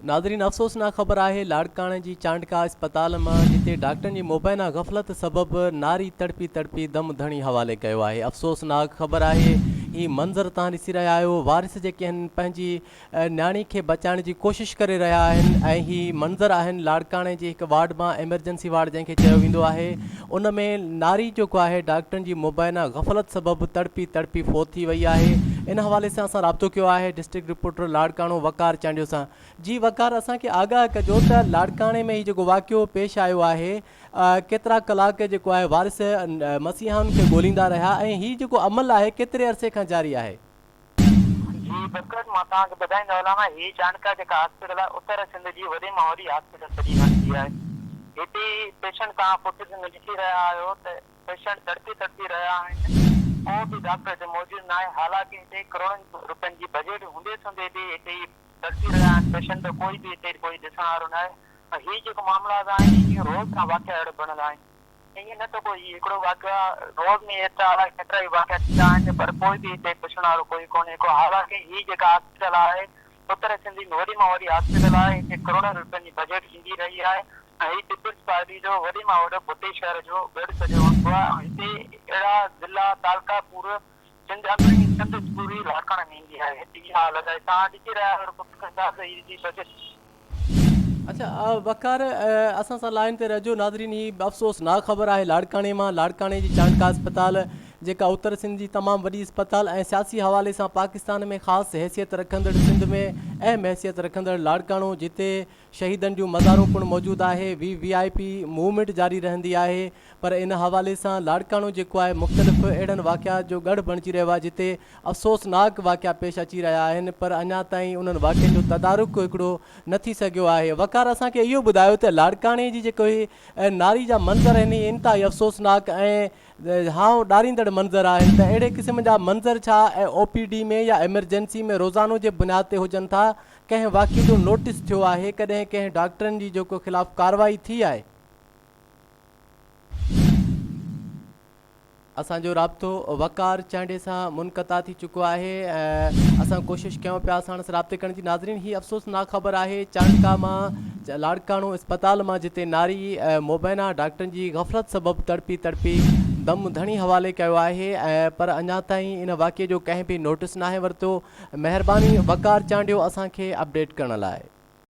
ناظرين افسوسناڪ خبر آهي لاڙڪاڻي جي چانڊڪا اسپتال مان جتي ڊاڪٽرن جي مبينا غفلت سبب ناري تڙپي تڙپي دم ڌڻي حوالي ڪيو آهي افسوسناڪ خبر آهي هي منظر تهان ڏسي رهيا آهيو وارث جيڪي آهن پنهنجي نياڻي کي بچائڻ جي ڪوشش ڪري رهيا آهن ۽ هي منظر آهن لاڙڪاڻي جي هڪ وارڊ مان ايمرجنسي وارڊ جنهن کي چيو ويندو آهي ان ۾ ناري جيڪو آهي ڊاڪٽرن جي مبينا غفلت سبب تڙپي تڙپي فوت ٿي وئي آهي ان حوالي سان اسان رابطو ڪيو آهي ڊسٽرڪٽ رپورٽر لاڙڪاڻو وقار چانڊيو سان جي وقار اسان کي آگاهه ڪجو ته لاڙڪاڻي ۾ هي جيڪو واقعو پيش آيو آهي ڪيترا ڪلاڪ جيڪو آهي وارث مسيحائن کي ڳوليندا رهيا ۽ هي جيڪو عمل آهي ڪيتري عرصي کان جاري آهي جي بکر مان توهان کي ٻڌائيندو هلان هي چانڊڪا جيڪا هاسپيٽل آهي اتر سنڌ جي وڏي مان وڏي هاسپيٽل سڏي ويندي آهي هتي پيشنٽ توهان فوٽيج ۾ ڏسي رهيا آهيو ته پيشنٽ تڙپي تڙپي رهيا آهن ڪو به ڊاڪٽر هتي موجود ناهي حالانڪه هتي ڪروڙن روپين جي بجيٽ هوندي سوندي به هتي تڙپي رهيا آهن پيشنٽ ڪوئي به هتي ڪوئي ڏسڻ وارو ناهي ۽ هي جيڪو معاملا آهن اهي روز سان واقعا اهڙا بڻيل آهن. ائين نه ته ڪو هي هڪڙو واقعا روز ۾ ايترا الائي ڪيترا ئي واقعا ٿيندا آهن پر ڪوئي به هتي پڇڻ وارو ڪوئي ڪونهي ڪو حالانڪه هي جيڪا هاسپيٽل آهي اتر سنڌي ۾ وڏي مان وڏي هاسپيٽل آهي هتي ڪروڙين رپين جي بجيٽ ايندي رهي آهي ۽ هي پيپلز پارٽي جو وڏي مان وڏو ڀٽي شهر جو ڳڙهه سڏيو ويندو آهي ۽ هتي اهڙا ضلعا تعلقا پور سنڌ اندر ئي سنڌ پوري لاکڻ نينگي آهي ٽي آء لڳائي تان ڏڪي رهيا آهيو رڳو فڪر ڇا ته هي جي بجيٽ. اچا وقار اسان سان لائين تي رهجو ناظرين هي افسوس ناڪ خبر آهي لاڙڪاڻي مان لاڙڪاڻي جي چانڊڪا اسپتال جيڪا اتر سنڌ جي تمام وڏي اسپتال ۽ سياسي حوالي سان پاڪستان ۾ خاص حيثيت رکندڙ سنڌ ۾ اهم حيثيت رکندڙ لاڙڪاڻو جتي شهيدن جون مزارون پڻ موجود آهي V V I P movement جاري رهندي آهي پر ان حوالي سان لاڙڪاڻو جيڪو آهي مختلف اهڙن واقعات جو ڳڙهه بڻجي رهيو آهي جتي افسوسناڪ واقعا پيش اچي رهيا آهن پر اڃا تائين انهن واقعن جو تدارڪ هڪڙو نه ٿي سگهيو آهي وقار اسان کي اهو ٻڌايو ته لاڙڪاڻي جي جيڪي ناري جا منظر آهن اهي انتهائي افسوسناڪ ۽ هانء ڏاريندڙ منظر آهن ته اهڙي قسم جا منظر ڇا او پي ڊي ۾ يا ايمرجنسي ۾ روزانو جي بنياد تي هجن ٿا ڪنهن واقعي جو نوٽس ٿيو آهي ڪڏهن ڪنهن ڊاڪٽرن جي جيڪو خلاف ڪارروائي ٿي آهي اسان جو رابطو وقار چانڊي سان منقطع ٿي چڪو آهي اسان ڪوشش ڪيون پيا ساڻس رابطي ڪرڻ جي ناظرين هي افسوسناڪ خبر آهي چانڊڪا مان لاڙڪاڻو اسپتال مان جتي ناري مبينا ڊاڪٽرن جي غفلت سبب تڙپي تڙپي دم ڌڻي حوالي ڪيو آهي پر اڃا تائين ان واقعي جو ڪنهن به نوٽس ناهي ورتو مهرباني وقار چانڊيو اسان کي اپڊيٽ ڪرڻ لاء.